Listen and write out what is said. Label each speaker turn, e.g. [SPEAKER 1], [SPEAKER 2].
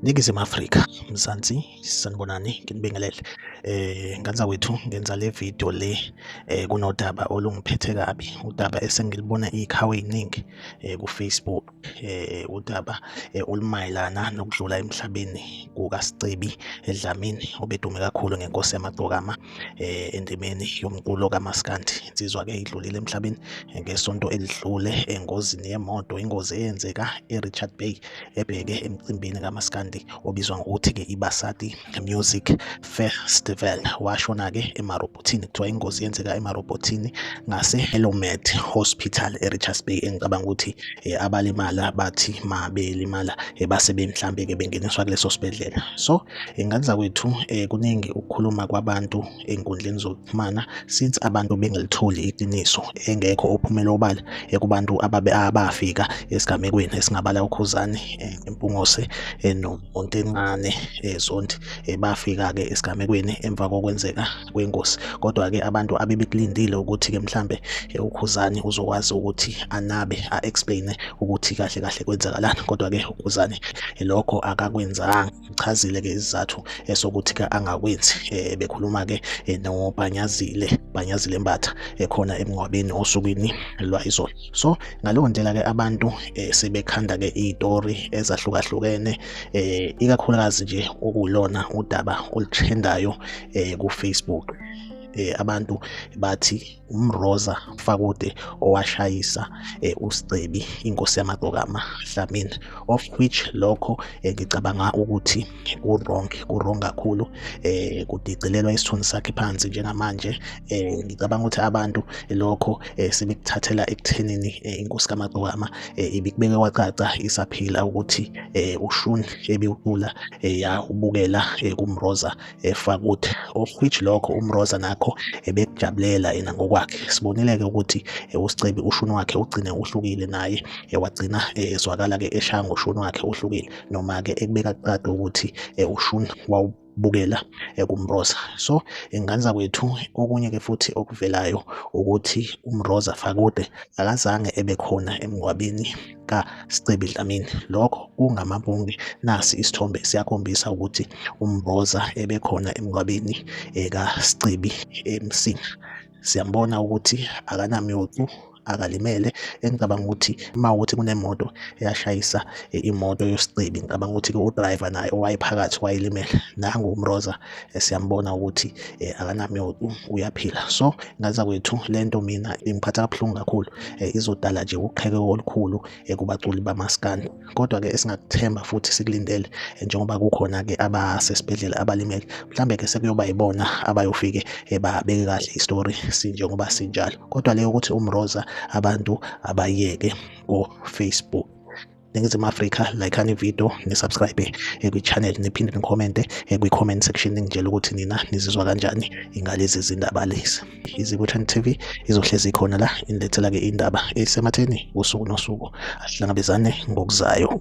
[SPEAKER 1] Ningizimu Afrika Mzansi sanibonani nginibingelele eh nganza wethu ngenza le video le eh kunodaba olungiphethe kabi udaba esengilibona ikhawe iningi eh ku Facebook eh udaba eh, olumayelana nokudlula emhlabeni kukaSicebi eDlamini obedume kakhulu ngenkosi yamagcokama eh, endimeni yomculo kamaskandi insizwa ke idlulile emhlabeni eh, ngesonto elidlule engozini yemoto ingozi eyenzeka eRichard Bay ebheke emcimbini kamaskandi obizwa ngokuthi ke ibasati Music Festival washona-ke emarobhothini kuthiwa ingozi yenzeka emarobhothini ngase-Elomed Hospital e-Richards Bay engicabanga ukuthi eh, abalimala bathi ma belimala eh, base bemhlambe-ke bengeniswa kuleso sibhedlela so eh, ngakuzakwethu kuningi ukukhuluma kwabantu enkundleni Mana since abantu bengalitholi iqiniso engekho ophumela obala ekubantu ababe abafika esigamekweni esingabala uKhuzani eh, Mpungose eh, noMontencane eh, Zondi bafika ke esigamekweni emva kokwenzeka kwengozi kodwa ke abantu abebekulindile ukuthi ke mhlambe uKhuzani uzokwazi ukuthi anabe a explain ukuthi kahle kahle kwenzakalani kodwa ke uKhuzani lokho akakwenzanga uchazile ke isizathu esokuthi ka angakwenzi eh, bekhuluma ke eh, nobhanyazile bhanyazile mbatha ekhona eh, emngcwabeni osukwini lwayizolo so ngaleyo ndlela ke abantu sebekhanda ke izitori ezahlukahlukene ikakhulukazi nje okulona udaba oluthendayo ku Facebook abantu bathi umroza fakude owashayisa eh, usicebi inkosi yamagqokama dlamini of which lokho eh, ngicabanga ukuthi ku-wrong ku-wrong kakhulu eh kudicilelwa isithunzi sakhe phansi njengamanje eh ngicabanga ukuthi abantu lokho eh, sebekuthathela ekuthenini eh, inkosi kamagqokama eh, ibikubeke kwacaca isaphila ukuthi eh, ushuni ebiwucula eh, yawubukela eh, kumroza efakuthi of which lokho umroza nakho ebekujabulela yena ngokwakhe sibonile-ke ukuthi eh, usicebi ushuni wakhe ugcine uhlukile naye eh, wagcina eh, ezwakala-ke eshaya ngoshuni wakhe uhlukile noma-ke ekubeka kuqade ukuthi ushuni wawu bukela ekumroza so ingane zakwethu okunye ke futhi okuvelayo ukuthi umroza fakude akazange ebe khona emngwabeni kaScebi Dlamini. Lokho kungamabunge nasi isithombe siyakhombisa ukuthi uMboza ebekhona emngcwabeni kaScebi eMsinga. Siyambona ukuthi akanamyocu akalimele engicabanga ukuthi uma ukuthi kunemoto eyashayisa imoto yosicebi ngicabanga ukuthi-ke udriver naye owayephakathi wayelimele nangu umroza eh, siyambona ukuthi eh, akanamyodu uyaphila so ngaza kwethu lento mina ingiphatha kabuhlungu kakhulu eh, izodala nje uqheke olukhulu kubaculi bamaskani kodwa ke esingakuthemba futhi sikulindele njengoba kukhona ke abasesibhedlela abalimele mhlambe ke sekuyoba yibona abayofike babeke kahle istory sinjengoba sinjalo kodwa leyo ukuthi umroza abantu abayeke ko Facebook Ningizimu Afrika like ani video ni subscribe eh, kwi channel niphinde ni comment eh, kwi comment section ningitshela ukuthi nina nizizwa kanjani ngalezi zindaba lezi izibuthani TV izohlezi ikhona la inilethela ke indaba esematheni usuku nosuku asihlangabezane ngokuzayo